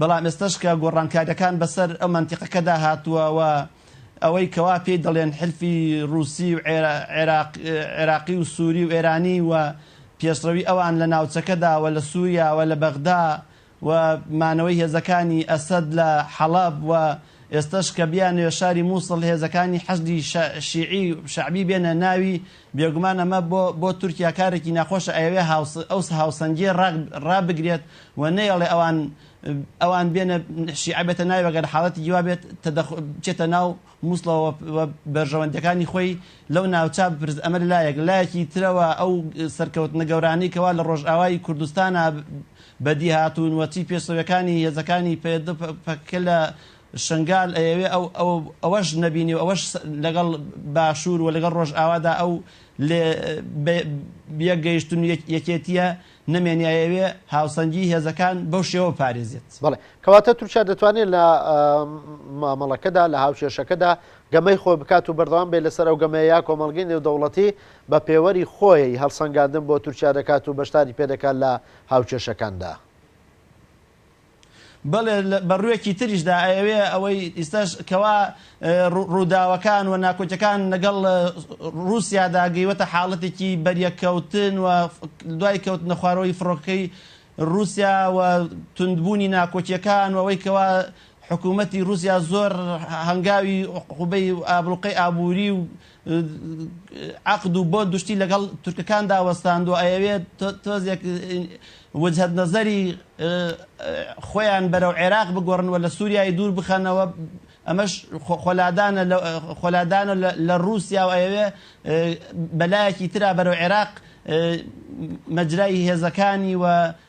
بەڵام ئێستەش کە گۆڕانکاریەکان بەسەر ئەو مەنتیقەکەدا هاتووە و ئەوەی کەوا پێی دەڵێن حلفی ڕووسی و عێراقی و سووری و ئێرانی و پێشڕەوی ئەوان لە ناوچەکەدا و لە سووریا و لە بەغدا و مانەوەی هێزەکانی ئەسەد لە حەڵەب و ئێستەش کە بیانەوێت شاری مووسڵ هێزەکانی حەشدی شیعی شەعبی بێنە ناوی بێگومان ئەمە بۆ بۆ تورکیا کارێکی ناخۆشە، ئەیەوێ هاوس ئەو هاوسەنگییە ڕاک ڕابگرێت و نەیەڵێ ئەوان ئەوان بێنە شیعە بێتە ناوی ئەگەر حاڵەتێکی وا بێت تەدەخ بچێتە ناو موسڵەوە و و بەرژەوەندییەکانی خۆی لەو ناوچە بپرس ئەمە لە لایەک، لە لایەکی ترەوە ئەو سەرکەوتنە گەورانەی کە وا لە ڕۆژئاوای کوردستانا بەدی هاتوون و چی پێشڕەوییەکانی هێزەکانی پەیەدە و پە پەکەکە لە شنگال ئەیەوێ ئەو ئەو ئەوەش نەبینی و ئەوەش لەگەڵ باشوور و لەگەڵ ڕۆژئاوادا ئەو لێ بە یەک گەیشتن و یەک یەکێتییە نەمێنی ئەیەوێ هاوسەنگیی هێزەکان بەو شێوە بپارێزێت. بەڵێ. کەواتە تورکیا دەتوانێ لە مامەڵەکەدا، لە هاوکێشەکەدا گەمەی خۆی بکات و بەردەوام بێ لەسەر ئەو گەمەیە یا کۆمەڵگەی نێودەوڵەتی بە پێوەری خۆی هەڵسەنگاندن بۆ تورکیا دەکات و بەشداری پێ دەکات لە هاوکێشەکاندا؟ بەڵێ بە ڕوێکی تریشدا ئەیەوێ ئەوەی ئیستاش کەوا ڕووداوەکان و ناکۆکیەکان لەگەڵ ڕوسیادا گەیوەتە حاڵەتێکی بەریەککەوتن و دوای کەوتنە خوارەوەی فڕۆکەی ڕوسیا و توندبوونی ناکۆکیەکان و ئەوەی کەوا حکوومەتی ڕوسیا زۆر هەنگاوی عقوبەی ئابڵوقەی ئابووری و عەقد و بۆ دوشتی لەگەڵ تورکەکاندا وەستاندوە ئەیەوێت تۆزێک وجهت نظری خۆیان بەرەو عێراق بگۆڕن و لە سوریای دوور بخەنەوە ئەمەش خۆلادانە خۆلادانە لە روسیا و ئەیەوێ بەلایەکی ترا بەرەو عێراق مەجرای هێزەکانی و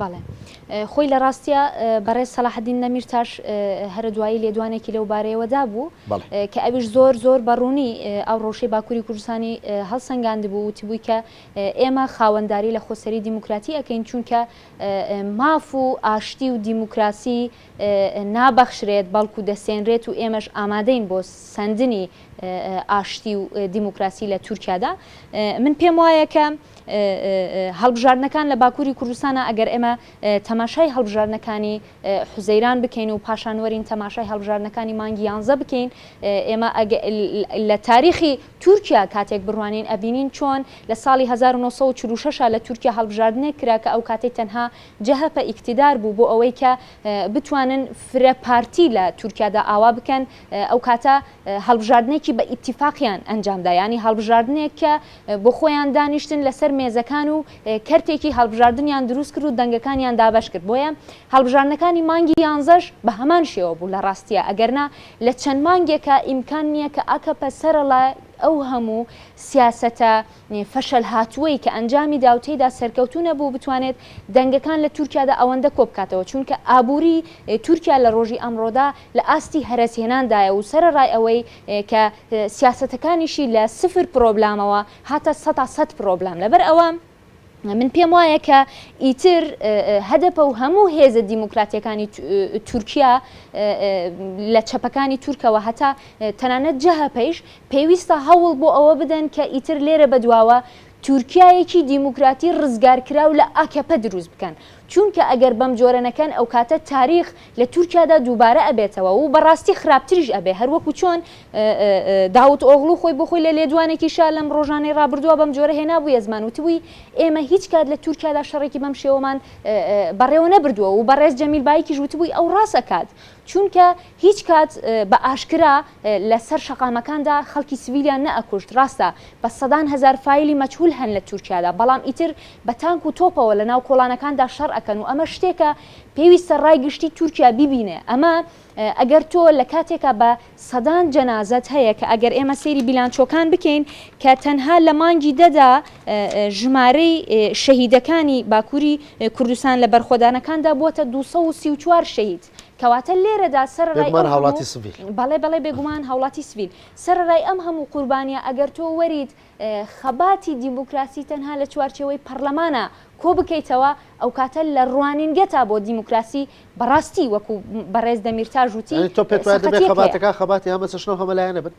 بەڵێ خۆی لە ڕاستیا بەڕێز سەلاحەدین نەمیرتاش هەرە دوایی لێدوانێکی لەو بارەیەوە دابوو کە ئەویش زۆر زۆر بەڕوونی ئەو ڕەوشەی باکووری کوردستانی هەڵسەنگاند بوو وتی بووی کە ئێمە خاوەنداری لە خۆسەری دیموکراتی ئەەکەین چونکە ماف و ئاشتی و دیموکراسی نابەخشرێت بەڵکو دەسێنرێت و ئێمەش ئامادەین بۆ سندنی ئاشتی و دیموکراسی لە تورکیادا من پێم وایە کە هەڵبژاردنەکان لە باکووری کوردستانە، ئەگەر ئێمە تەماشای هەڵبژاردنەکانی حوزەیران بکەین و پاشان وەرین تەماشای هەڵبژاردنەکانی مانگی یانزە بکەین، ئێمە لە تاریخی تورکیا کاتێک بڕوانین ئەبینین چۆن لە ساڵی هەزار و نۆ سەد و چل و شەش لە تورکیا هەڵبژاردنێک کرا کە ئەوکاتەی تەنها جەهەپە ئیکتیدار بوو بۆ ئەوەی کە بتوانن فرە پارتی لە تورکیادا ئاوا بکەن، ئەوکاتە هەڵبژاردنێکی بە ئیتیفاقیان ئەنجامدا یانی هەڵبژاردنێک کە. بۆ خۆیان دانیشتن لەسەر مێزەکان و کەرتێکی هەڵبژاردنیان دروست کرد و دەنگەکانیان دابەش کرد بۆیە هەڵبژاردنەکانی مانگی یانزەش بە هەمان شێوە بوو لە ڕاستیا ئەگەرنا لە چەند مانگێکا ئیمکان نیە کە ئاکەپە سەرەڵای ئەو هەموو سیاسەتە فەشەل هاتووەی کە ئەنجامی دا و تێیدا سەرکەوتوو نەبوو بتوانێت دەنگەکان لە تورکیادا ئەوەندە کۆ بکاتەوە چوونکە ئابووری تورکیا لە ڕۆژی ئەمڕۆدا لە ئاستی هەرەس هێنان دایە و سەرەڕای ئەوەی کە سیاسەتەکانیشی لە سفر پرۆبلامەوە هاتە سەتا سەت پرۆبلام لەبەر ئەوە من پێم وایە کە ئیتر هەدەپە و هەموو هێزە دیموکراتیەکانی تورکیا لە چەپەکانی تورکەوە هەتا تەنانەت جەهەپەیش پێویستە هەوڵ بۆ ئەوە بدەن کە ئیتر لێرە بەدواوە تورکایەکی دیموکراتی ڕزگارکراو لە ئاکەپە دروست بکەن چونکە ئەگەر بەم جۆرە نەکەن ئەو کاتە تاریخ لە تورکیادا دووبارە ئەبێتەوە و بەڕاستی خراپتریش ئەبێ هەر وەکو چۆن داوت ئۆغڵو خۆی بۆ خۆی لە لێدوانێکی شا لەم ڕۆژانەی ڕابردووە بەم جۆرە هێنابوویە زمان وتبووی ئێمە هیچ کات لە تورکیادا شەڕێکی بەم شێوەمان بەڕێوە نەبردووە و بەڕێز جەمیل بایکیش وتبووی ئەو ڕاست ئەکات چونکە هیچ کات بە ئاشکرا لە سەر شەقامەکاندا خەڵکی سڤیلیان نە ئەکوشت ڕاستە بە سەدان هەزار فایلی مەجهول هەن لە تورکیادا بەڵام ئیتر بە تانک و تۆپەوە لە ناو کۆڵانەکاندا شەڕ ئەکەن و ئەمە شتێکە پێویستە ڕای گشتی تورکیا بیبینێ ئەمە ئەگەر تۆ لە کاتێکا بە سەدان جەنازەت هەیە کە ئەگەر ئێمە سەیری بیلانچۆکان بکەین کە تەنها لە مانگی دەدا ژمارەی شەهیدەکانی باکووری کوردستان لە بەرخۆدانەکاندا بووەتە دوو سەد و سی و چوار شەهید کەواتە لێرەدا سەرەڕای بێگومان هاوڵاتی سڤیل بەڵێ بەڵێ بێگومان هاوڵاتی سڤیل سەرەڕای ئەم هەموو قوربانیە ئەگەر تۆ وەریت خەباتی دیموکراسی تەنها لە چوارچێوەی پەڕلەمانا کۆ بکەیتەوە ئەوکاتە لە ڕوانینگەتا بۆ دیموکراسی بەڕاستی وەکو بەڕێز دەمیرتاژ وتی یانی تۆ پێت وایە دەبێ سەقەتیەک هەیە. خەباتەکان خەباتی هەمە چەشنە و هەمە لایەنە بن؟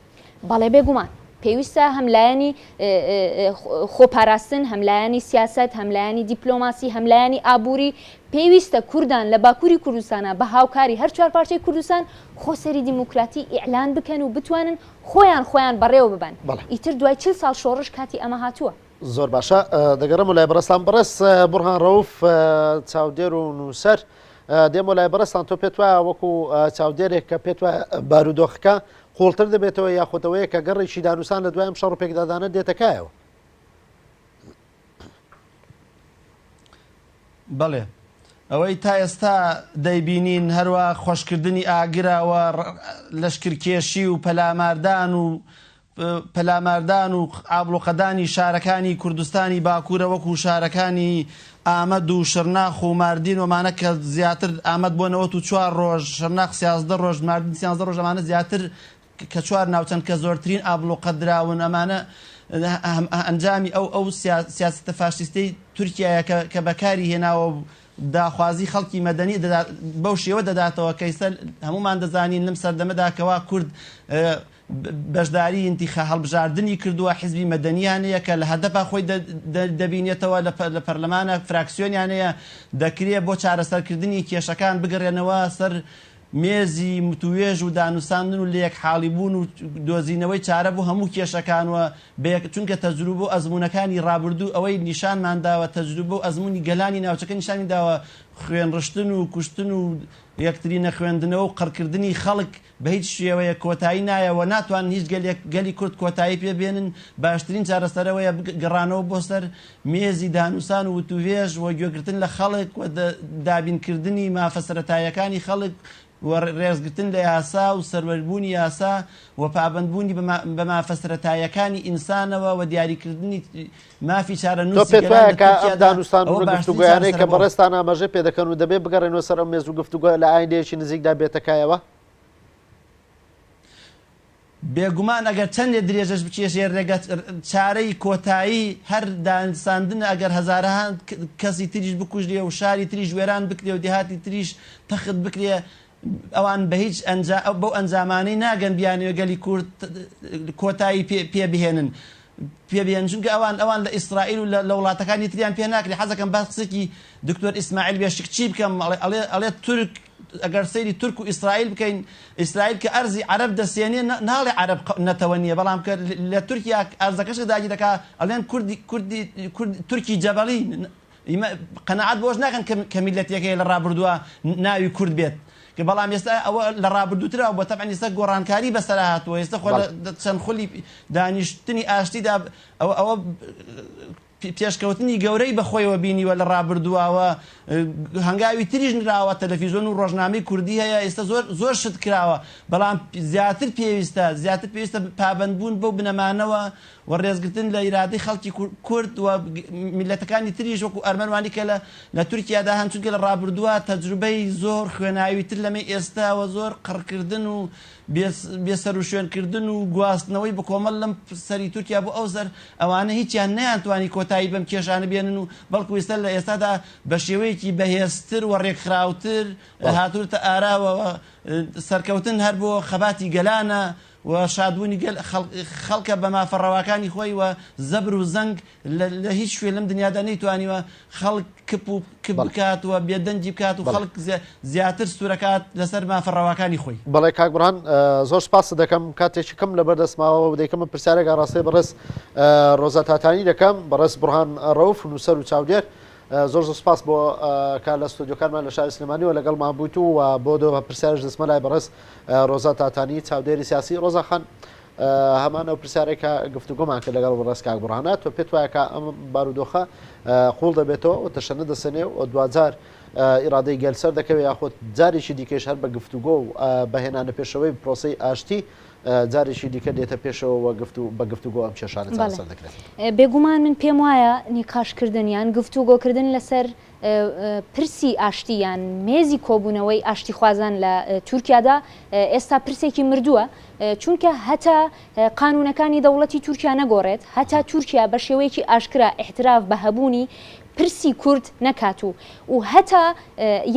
بەڵێ بێگومان پێویستە هەم لایەنی خۆپاراستن هەم لایەنی سیاسەت هەم لایەنی دیپلۆماسی هەم لایەنی ئابووری پێویستە کوردان لە باکووری کوردستانا بە هاوکاری هەر چوار پارچەی کوردستان خۆسەری دیموکراتی ئیعلان بکەن و بتوانن خۆیان خۆیان بەڕێوە ببەن بەڵێ. ئیتر دوای چل ساڵ شۆڕش کاتی ئەمە هاتووە. زۆر باشە دەگەڕێمەوە لای بەڕێزتان بەڕێز بوڕهان ڕەوف چاودێر و نووسەر دێمەوە لای بەڕێزتان تۆ پێت وایە وەکو چاودێرێک کە پێت وایە بارودۆخەکە قوڵتر دەبێتەوە یاخۆتەوەیە کە گەڕێکی دانوسان لە دوای ئەم شەڕ و پێکدادانە دێتەکایەوە بەڵێ ئەوەی تا ئێستا دەیبینین هەروا خۆشکردنی ئاگراوە لەشکرکێشی و پەلاماردان و پەلاماردان و ئابلوقەدانی شارەکانی کوردستانی باکوورە وەکو شارەکانی ئامەد و شرناخ و ماردین ومانە کە زیاتر ئامەد بۆ نەوەت و چوار ڕۆژ شرناخ سیازدە ڕۆژ ماردن سیانزە ڕۆژەمانە زیاتر کە چوار ناوچەن کە زۆرترین ئابڵوقە دراون، ئەمانە ئەنجامی ئەو ئەو سیاسەتە فاشیستەی تورکیایە کە کە بەکاری هێناوە و داخوازی خەڵکی مەدەنی بەو شێوە دەداتەوە کەیسە هەمومان دەزانین لەم سەردەمەدا کەوا کورد بەشداری انتخا هەڵبژاردنی کردووە حزبی مەدەنیانەیە کە لە هەدەپا خۆی دەبینێتەوە لە پەرلەمانە فراکسیۆنیانەیە دەکرێت بۆ چارەسەرکردنی کێشەکان بگەڕێنەوە سەر مێزی متوێژ و دانوساندن و لەیەک حاڵی بوون و دۆزینەوەی چارە بۆ هەموو کێشەکان و بەیەک چونکە تەجروبە و ئەزموونەکانی ڕابردوو ئەوەی نیشانمان داوە تەجروبە و ئەزموونی گەلانی ناوچەکە نیشانی داوە خوێن ڕشتن و کوشتن و یەکتری نەخوێندنەوە و قڕکردنی خەڵک بەهیچ شێوەیەک کۆتایی نایە و ناتوانن هیچ گەلێک گەلی کورد کۆتایی پێ بێنن باشترین چارەسەرەوەیە بگەڕانەوە بۆ سەر مێزی دانوسان و وتووێژ و گوێگرتن لە خەڵک و دابین کردنی مافە سەرەتایەکانی خەڵک و رێزگرتن لە یاسا و سەروەر بوونی یاسا و پابەند بوونی بە مافە سەرەتایەکانی ئینسانەوە و دیاری کردنی مافی چارەنووسی گەلان لە تورکیادا ئەوە باشترین چارەسەرە بۆ بەڕێزتان ئاماژەی پێ دەکەن و دەبێ بگەڕێنەوە سەر ئەو مێز و گفتوگۆیە لە ئایندەیەکی نزیکدا بێتە کایەوە؟ بێگومان ئەگەر چەندێ درێژەش بکێشێ رێگە چارەی کۆتایی هەر دانساندنە ئەگەر هەزارەها کەسی تریش بکوژرێ و شاری تریش وێران بکرێ و دێهاتی تریش تەخت بکرێ ئەوان بە هیچ بەو ئەنجامانەی ناگەن بیانەوێ گەلی کورد کۆتایی پێ بهێنن پێ بهێنن چونکە ئەوان ئەوان لە ئیسرائیل و لە وڵاتەکانی تریان پێ ناکرێ حەزەکەم باس قسەکی دکتۆر ئیسماعیل بێشکچی بکەم ئەڵێ ئەڵێ تورک ئەگەر سەیری تورک و ئیسرائیل بکەین ئیسرائیل کە ئەرزی عەرەب دەسێنێ ناڵێ عەرەب نەتەوە نیە بەڵام کە لە تورکیا ئەرزەکەش داگیر دەکا ئەڵێن کوردی کوردی کورد تورکی جەبەڵی ئیمە قەناعەت بۆش ناکەن کە میلەتێکەیە لە ڕابردووە ناوی کورد بێت کە بەڵام ئێستا ئەوە لە ڕابردووترا بۆ تەبعەن ئێستا گۆڕانکاری بەسەرا هاتووە ئێستا خۆ چەند خولی دانیشتنی ئاشتیدا ئەوە ئەوە پێشکەوتنی گەورەی بە خۆیەوە بینیوە لە ڕابردووا و هەنگاوی تریش نراوە، تەلەفیزۆن و ڕۆژنامەی کوردی هەیە، ئیستە زۆر زۆر شت کراوە، بەڵام زیاتر پێویستە زیاتر پێویستە پابەند بوون بەو بنەمانەوە و ڕێزگرتن لە ئیرادەی خەڵکی کورد و میللەتەکانی تریش وەکو ئەرمەن وانی کە لە لە تورکیا دا هەن چونکە لە ڕابردووا تەجروبەی زۆر خوێناوی تر لەمەی ئێستا و زۆر قڕکردن و بێ سەروشوێن کردن و گواستنەوەی بکۆمەڵ لەم سەری تورکیا بۆ ئەو سەر، ئەوانە هیچیان نەیانتوانی کۆتایی بەم کێشانە بێنن و بەڵکو ئیستا لە ئێستادا بە شێوەیەکی بەهێزتر و رێکخراوتر هاتونەتە ئاراوە و سەرکەوتن هەر بۆ خەباتی گەلانە و شادبونی گەل خەڵکە بە مافە رەواکانی خۆی و زەبر و زەنگ لە هیچ شوێ لەم دنیادا نەیتوانیوە خەڵک کپ و کپ بکات و بێدەنگی بکات و خەڵک زیاتر سوورەکات لەسەر مافە ڕەواکانی خۆی. بەڵێ کاک بڕان زۆر سپاست دەکەم کاتێکی کەم لەبەر دەستماوە و دەیکەمە پرسیارێک ئاڕاستەی بەڕێز ڕۆزا تاتانی دەکەم بەڕێز بڕان ڕەوف نووسەر و چاودێر زۆر زۆر سپاس بۆ کار لە ستۆدیۆکانمان لە شاری سلێمانیەوە لەگەڵمان بوویت و بۆ دۆ پرسیارش دەستمە لای بەڕێز ڕۆزا تاتانی چاودێری سیاسی ڕۆزاخان هەمان ئەو پرسیارەی کە گفتوگۆمان کرد لەگەڵ بەڕێز کاک بوڕهانە، تۆ پێت وایە کە ئەم بارودۆخە قووڵ دەبێتەوە و تەشەنە دەسەنێ و دواجار ئیرادەی گەل سەر دەکەوێت یاخود جارێکی دیکەیش هەر بە گفتوگۆ و بە هێنانە پێشەوەی پرۆسەی ئاشتی جارێکی دیکە دێتە پێشەوە و گفت و بە گفتوگۆ ئەم کێشانە چارەسەر دەکرێت؟ بێگومان من پێم وایە نیقاشکردن یان گفتوگۆکردن لەسەر پرسی ئاشتی یان مێزی کۆبوونەوەی ئاشتیخوازان لە تورکیادا ئێستا پرسێکی مردووە، چونکە هەتا قانوونەکانی دەوڵەتی تورکیا نەگۆڕێت، هەتا تورکیا بە شێوەیەکی ئاشکرا ئیعتراف بە هەبوونی پرسی کورد نەکات و و هەتا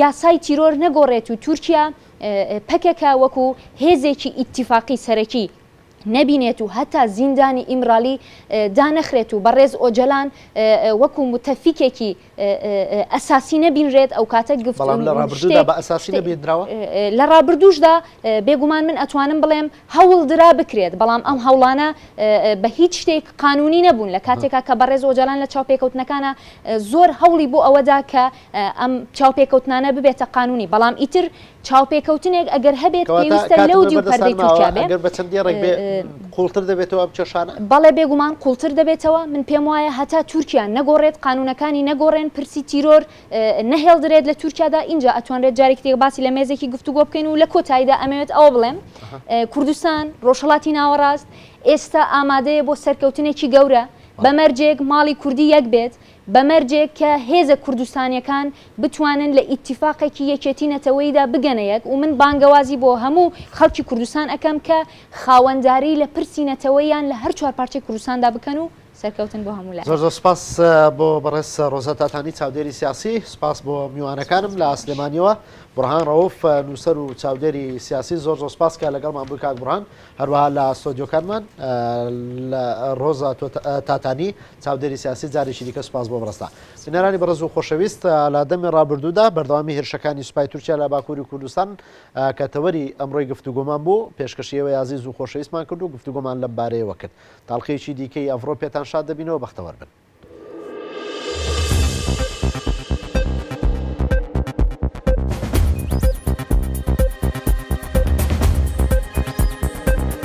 یاسای تیرۆر نەگۆڕێت و تورکیا پەکەکە وەکوو هێزێکی ئیتیفاقی سەرەکی نەبینێت و هەتا زیندانی ئیمرالی دانەخرێت و بەڕێز ئۆجەلان وەکو متەفیکێکی ئەساسی نەبینرێت ئەوکاتە گفت بەڵام لە ڕابردوودا بە ئەساسی نەبینراوە؟ لە ڕابردووشدا بێگومان من ئەتوانم بڵێم هەوڵ درا بکرێت بەڵام ئەم هەوڵانە بە هیچ شتێک قانونی نەبوون لە کاتێکا کە بەڕێز ئۆجەلان لە چاوپێکەوتنەکانا زۆر هەوڵی بۆ ئەوەدا کە ئەم چاوپێکەوتنانە ببێتە قانونی، بەڵام ئیتر چاوپێکەوتنێک ئەگەر هەبێت پێویستە لەو دیو پەردەی تورکیا بێت. ئەگەر بە چەند دێڕێک بێت قوڵتر دەبێتەوە ئەم کێشانە؟ بەڵێ بێگومان قوڵتر دەبێتەوە، من پێم وایە هەتا تورکیا نەگۆڕێت، قانونەکانی نەگۆڕێن، پرسی تیرۆر نەهێڵدرێت لە تورکیادا، ئینجا ئەتوانرێت جارێکی دیکە باسی لە مێزێکی گفتوگۆ بکەین و لە کۆتاییدا ئەمەوێت ئەوە بڵێم کوردستان، ڕۆژهەڵاتی ناوەڕاست ئێستا ئامادەیە بۆ سەرکەوتنێکی گەورە، بە مەرجێک ماڵی کوردی یەک بێت، بە مەرجێک کە هێزە کوردستانیەکان بتوانن لە ئیتیفاقێکی یەکێتی نەتەوەییدا بگەنە یەک و من بانگەوازی بۆ هەموو خەڵکی کوردستان ئەکەم کە خاوەنداری لە پرسی نەتەوەییان لە هەر چوار پارچەی کوردستاندا بکەن و سەرکەوتن بۆ هەموو لایەک. زۆر زۆر سوپاس بۆ بەڕێز ڕۆزا تاتانی چاودێری سیاسی، سوپاس بۆ میوانەکانم لە سلێمانیەوە، بوڕهان ڕەوف نوسەر و چاودێری سیاسی، زۆر زۆر سوپاس کە لەگەڵمان بووی کاک بوڕهان، هەروەها لە ستۆدیۆکانمان لە ڕۆزا تاتانی، چاودێری سیاسی جارێکی دیکە سوپاس بۆ بەڕێزتان. بینەرانی بەڕێز و خۆشەویست، لە دەمی ڕابردوودا بەردەوامی هێرشەکانی سوپای تورکیا لە باکووری کوردستان کە تەوەری ئەمڕۆی گفتوگۆمان بوو، پێشکەشی ئێوەی ئازیز و خۆشەویستمان کرد و گفتوگۆمان لەم بارەیەوە کرد. تاڵقییەکی دیکەی ئەڤڕۆ پێتان شاد دەبینەوە، بەختەوەر بن.